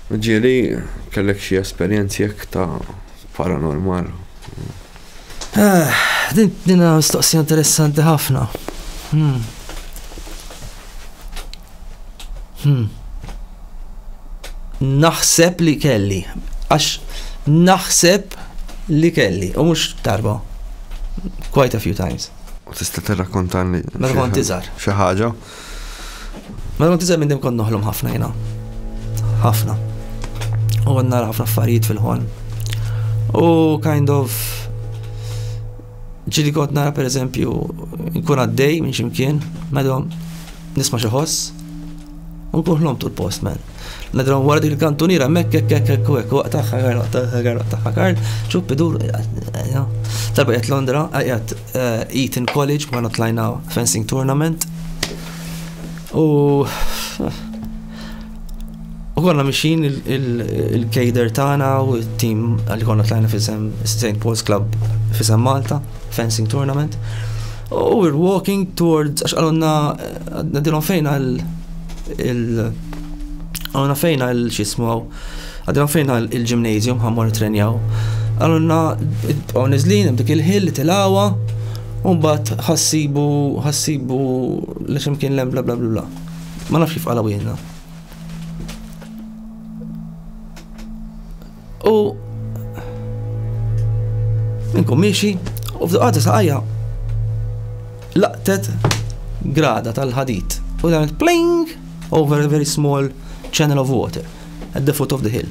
Ġieli, kellek xi esperjenzi hekk ta' paranormal? Eħ, din hija mistoqsija interessanti ħafna. Hmm. Hmm. Naħseb li kelli, għax naħseb li kelli, u mhux darba. Quite a few times. U tista' tirrakkontalni? Meta kont iżgħar. Xi ħaġa? Mela kont iżgħar minn din kont noħlom ħafna jiena. Ħafna. U kont nara ħafna affarijiet fil-ħolm. U kind of ġili kont nara per eżempju nkun għaddej minn ximkien, madom nisma' xi ħoss. U nkun ħlom tul post man. Nadrom wara dik il-kantuniera mekk hekk hekk hekk hekk waqt tagħha karl tagħha karl tagħha karl ċupp idur. Talba qed Londra, qed eh, Eton College, ma tlajna fencing tournament. U U konna mixin il-kejder tagħna u t-tim għalli konna tlajna fisem St. Paul's Club fisem Malta, fencing tournament. U we're walking towards, għax għalonna, għadilom fejna il- għalonna fejna il-xismu għaw, Għadna fejn għal il-gymnasium ħammor trenjaw. Għalunna bqgħu niżlin hemm dik il-ħil li tilgħawa u mbagħad ħassibu ħassibu li x'imkien lem bla bla bla. Ma nafx kif qalgħu jiena. U minkum miexi u f'daqqa saqajja laqtet grada tal-ħadid. U dan il-pling Over a very small channel of water, at the foot of the hill.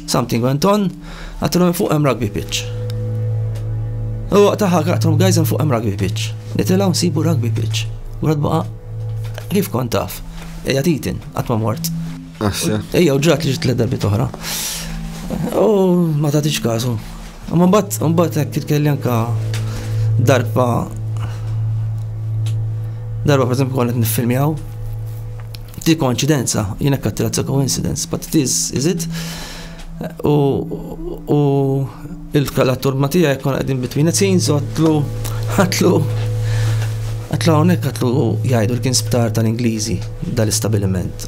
Something went on, għattilom fuq hemm rugby pitch. U waqtaħa għattilom guys hemm fuq hemm rugby pitch. Nitilaw nsibu rugby pitch. U għad baqa, kif kont taf, eja titin, għatma mort. Eja u ġrat li ġit l-darbi toħra. U ma tatiċ kazu. Imma mbagħad mbagħad hekk titkelli anke darba darba pereżempju kont qed niffilmjaw ti konċidenza, jiena kattila ta' coincidence, but it is, is it? U u il-kalatur ma tiegħi kon qegħdin between it scenes u għatlu għatlu għatlu hawnhekk għatlu jgħidu l-kien sptar tal-Ingliżi dal-istabiliment.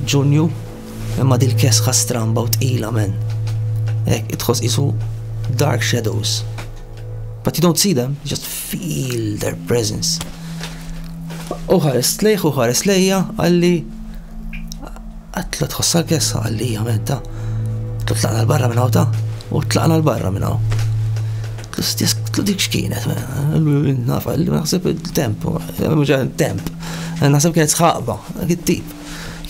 Ġunju, imma dil kesħa stramba u tqila men. Ek, itħos isu dark shadows. But you don't see them, you just feel their presence. U ħares lejħ u ħares lejja għalli għatlu tħossa l-kessa għalli għamenta. Tlu tlaqna l-barra minna ta' u tlaqna l-barra minna. Tlu dik xkienet, nafa, naħseb il-temp, mġan temp. Naħseb kienet sħaqba, għit-tip.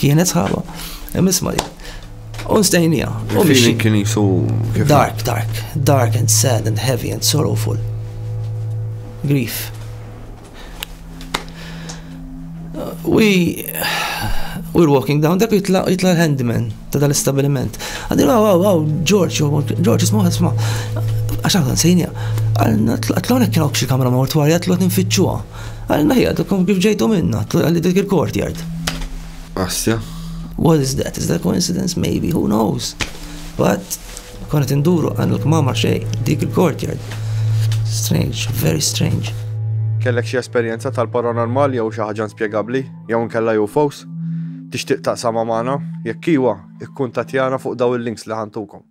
Kienet sħaqba. Misma li. Un stejnija. U biex. Kien jisu. Dark, dark. Dark and sad and heavy and sorrowful. Grief. We we're walking down, dak jitla jitla l-handyman ta' dal-istabiliment. Għaddi, wow, wow, wow, George, George, isma, isma, għaxan kan sejnija, għalna tlaqna kien xi kamra mortwarja, tlaqna nfittxuha. Għalna hija tkun kif ġejtu minna, għalli dik il-courtyard. Assja. What is that? Is that coincidence? Maybe, who knows? But, konet induru għan il-kmama xej, dik il-courtyard. Strange, very strange. Kellek xie esperienza tal-paranormal jew xi ħaġa inspjegabbli jew nkella jew fos? Tixtieq taqsama magħna? Jekk iwa, ikkuntatjana fuq daw il-links li ħantukom.